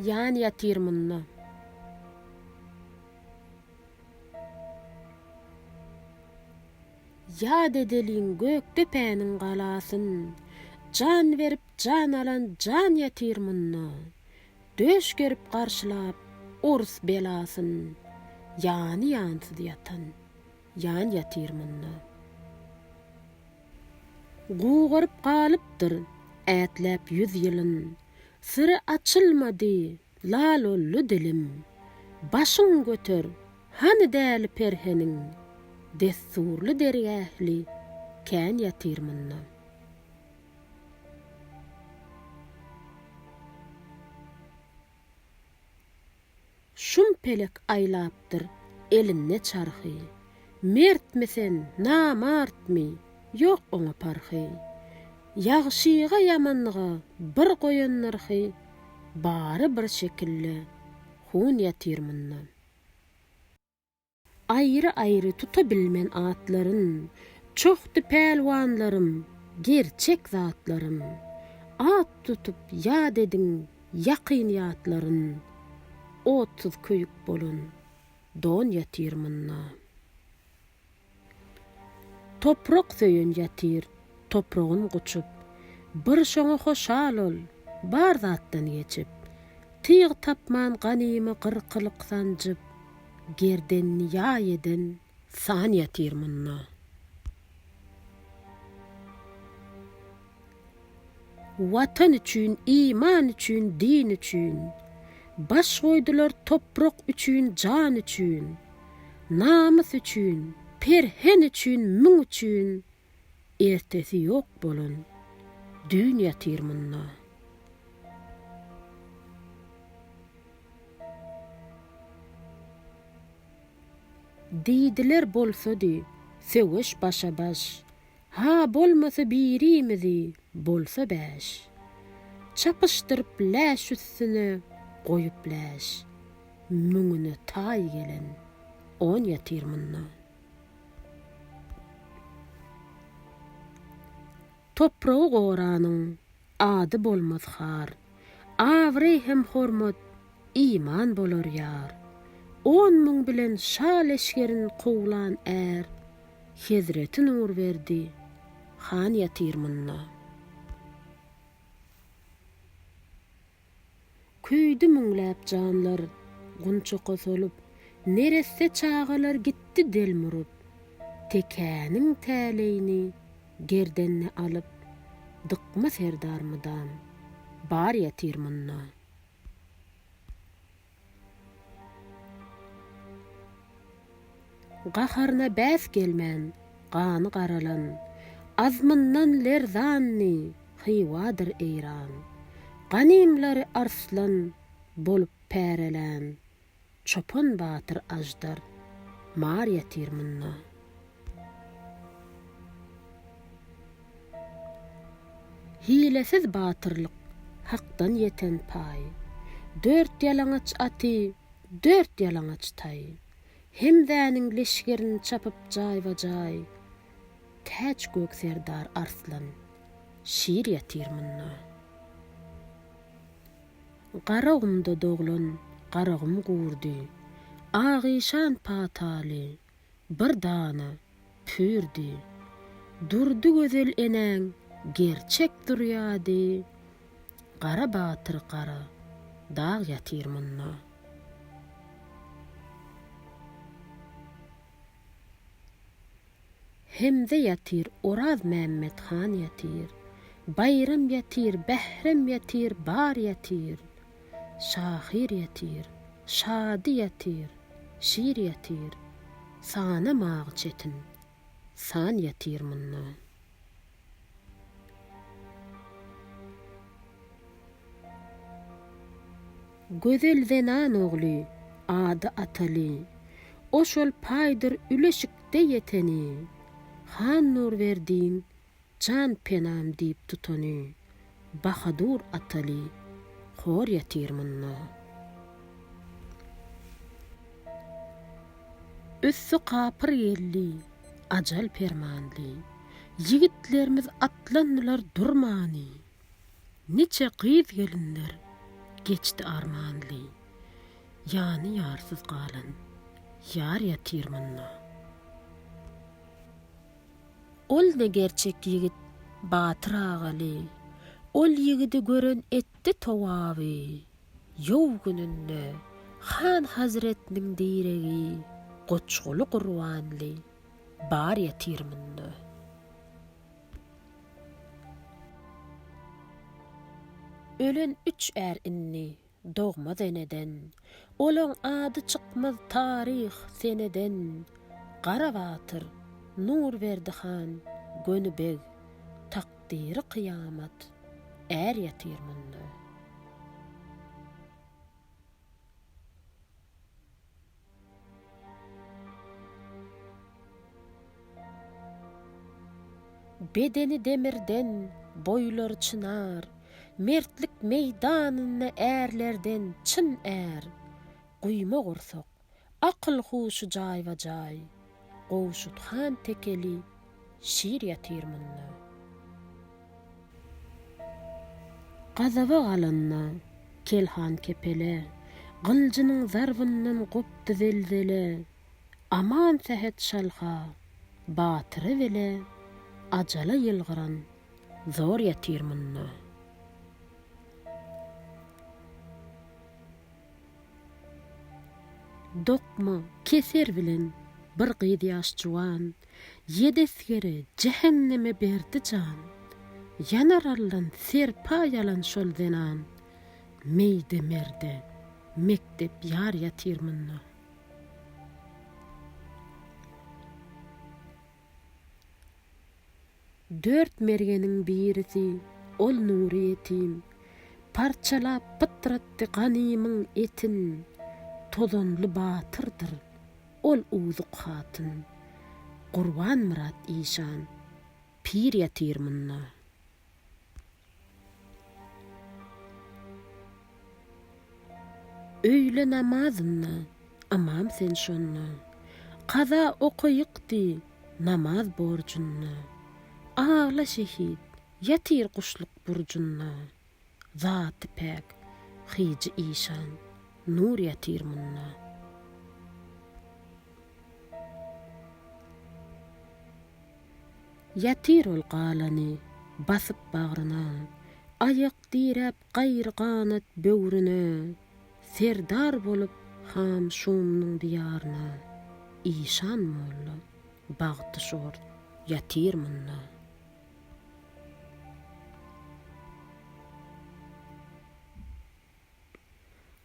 Ýan ýatyr munda. Ýat edeliň Gökdepäniň galasyn, Jan berip jan alan jan ýatyr munda. Döş gerip garşylap orus belasyn, Ýany ýansyz ýatan. Jan ýatyr munda. Gugaryp galypdyr ätläp ýüz ýylyn, Syry açylmady lalolly dilim. Başyň göter, hany däli perheniň, Dessurly dergähli kän ýatyr munda. Şum pelek aýlapdyr elinde çarhy. Mertmi sen, namartmy, ýok oňa parhy. Ýagşyga, ýamanlyga bir goýan nyrhy, Bary bir şekilde, hun ýatyr mundan. Aýry-aýry tutabilmen atlaryn, Çohdy pälwanlarym, gerçek zatlaryn. At tutup ýat ediň ýakyn ýatlaryn, Otsuz köýük bolan don ýatyr munda. Toprak söýen ýatyr topragyn guçup, Bir şoňa hoşal ol, bar zatdan geçip. Tyg tapman ganymy gyrkylyk sanjyp, Gerdenini ýaý eden san ýatyr munda. Watan üçin, iman üçin, din üçin, Baş goýdular toprak üçin, jan üçin, Namys üçin, perhen üçin, müň üçin, Ertesi ýok bolan düýn ýatyr munda. Diýdiler bolsady söweş başa-baş, Ha bolmasa birimizi bolsa bäş. Çapyşdyryp läş üstüne goýup läş, Müňüne taý gelen on ýatyr munda. Topragy goranyň, ady bolmaz har. Abraý hem hormat, iman bolar ýar. On müň bilen şa leşgerin kowlan är. Hezreti Nurberdi han ýatyr munda. Köýdi müňläp janlar, gunçaka solup, Neresse çagalar gitdi delm urup. Tekäniň täleýini gerdenine alyp, Dykma serdar mydam, bar ýatyr munda. Gaharyna bäs gelmän, gany garalan, Azmyndan lerzanny Hywadyr Eýran. Ganymlary arslan bolup pärelän, Çopan batyr aždar mar ýatyr munda. Hilesiz batyrlyk, hakdan ýeten paý. Dört ýalaňaç aty, dört ýalaňaç taý. Hemzäniň leşgerin çapyp jaýba-jaý. Täç gök serdar Arslan Şir ýatyr munda. Garagumda doglan Garagum gurdy. Agyşan pataly, bir dana pürdi Durdy gözel enäň gerçek durýady Gara batyr gara dag ýatyr munda Hemze ýatyr Oraz Mämmet han ýatyr Baýram ýatyr Bährem ýatyr bar ýatyr Şahyr ýetir, şady ýetir, şir ýetir, Sanamagy çetin, san ýetir mundan. Gözel zenan ogly, ady Ataly, O şol paýdyr üleşikde ýeteni, Han Nurberdiň Jan penam diýip tutany, Bahadur Ataly hor ýatyr munda. Üsti kapyr geldi, ajal permanly, Ýigitlerimiz atlandylar durmany. Niçe gyz-gelinler geçdi armanly, Ýany ýarsyz galan ýar ýatyr munda. Ol-da gerçek ýigit Batyr Agaly. Ol ýigidi gören etdi towaby. Ýow gününde han hazretiniň diregi Goçguly Gurbanly bar ýatyr munda. Ölen üç är indi. dogmaz eneden. Olaň ady çykmaz taryh seneden. Gara batyr, Nurberdi han, göni beg, takdyry kyýamat, är ýatyr munda. Bedeni demirden, boýlary çynar, Mertlik meýdanynda ärlerden çyn är. Guýma gursak, akyl-huşy jaýba-jaý, Gowşut han tekeli şir ýatyr munda. Gazaba galanda, kel han kepele. Gyljynyň zarbyndan gopdy zelzele. Aman Sähet Şalha, batyra bele. Ajala ýylgyran zor ýatyr munda. Dokma keser bilen bir gyz ýaş juwan, Ýedi esgere jähenneme berdi jan. Ýanar allan serpa ýalan şol zenan, Meýde merde mekdep ýar ýatyr munda. Dört mergeniň birisi, ol Nury ýetim. Parçalap pytratdy ganymyň etin, Tozanly batyrdyr, ol uzuk hatyn. Gurbanmyrat işan, pir ýatyr munda. Öýle namazynda, ymam sen şonda, Kaza okaýyk diý, namaz borjunda. Agla şehit, ýatyr guşluk burjunda, Zaty päk, hyjy işan, nur ýatyr munda. Ýatyr ol galany basyp bagryna, Aýak diräp gaýry ganat böwrüne, Serdar bolup han Şumyň diýaryna, Işan molla bagty şort ýatyr munda.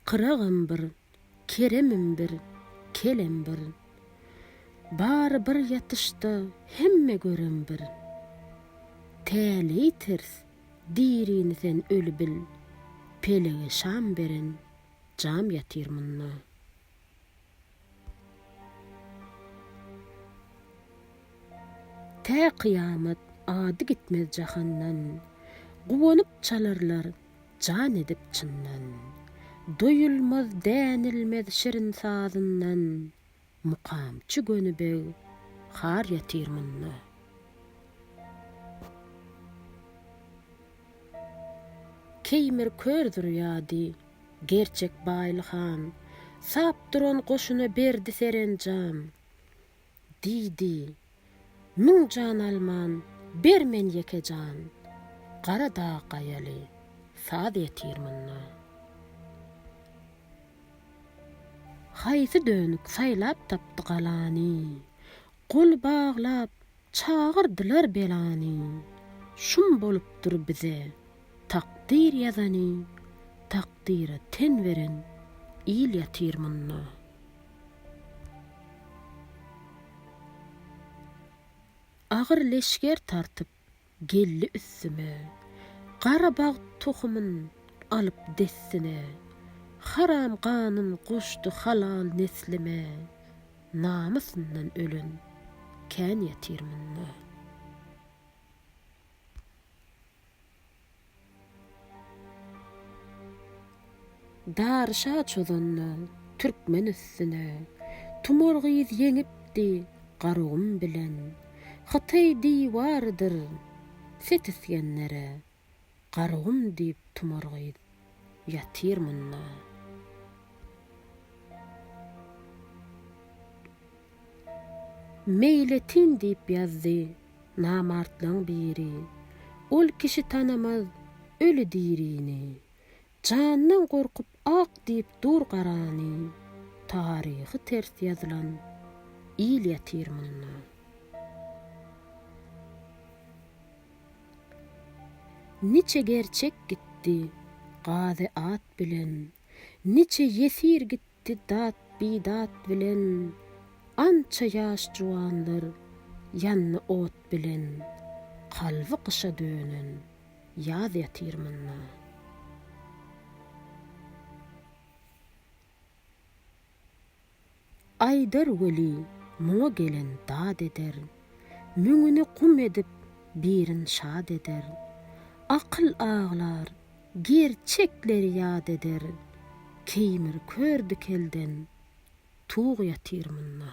Kyragym bir, keremim bir, kelem bir. Bary bir ýatyşda hemme görem bir. Täleý ters, dirini sen öli bil, pelege şam beren jam ýatyr munda. Tä kyýamat ady gitmez jahandan, Guwanyp çalarlar jan edip çyndan. Doýulmaz dänilmez şirin sazyndan, Mukamçy göni beg har ýatyr munda. Keýmir kör durýady Gerçek Baýly han. Sap duran goşuna berdi serenjam. Diýdi, Müň jan alman, ber men ýeke jan. Gara dag gaýaly, saz ýetir munda. Haýsy dönük saýlap tapdy galany. Gol baglap, Çagyrdylar belany, şum bolupdyr bize takdyr ýazany, takdyra ten beren il ýatyr munda. Agyr leşger tartyp geldi üstüme, gara bagt tohumyn alyp dessine, haram ganyn goşdy halal neslime, Namysyndan ölen kän ýatyr munda. Dary şa çozanda türkmen üstüne, Tumar gyz ýeňipdi Garagum bilen. Hytaý diwarydyr Set Isgendere, Garagum diýip tumar gyz ýatyr munda. Meýletin diýip ýazdy namartlaň biri. Ol kişi tanamaz öli dirini. Jandan gorkup ak diýip dur garany taryhy ters ýazylan il ýatyr munda. Niçe gerçek gitdi gazy at bilen niçe ýesir gitdi Ti dat, bi dat bilen. Ança ýaş juwanlar ýandy ot bilen. Kalby gyşa dönen ýaz ýatyr munda. Aýdar weli, muňa gelen dad eder. Müňüni gum edip, birin şad eder. Akyl aglar, Gerçekleri ýat eder keýmir kör dikelden tug ýatyr munda.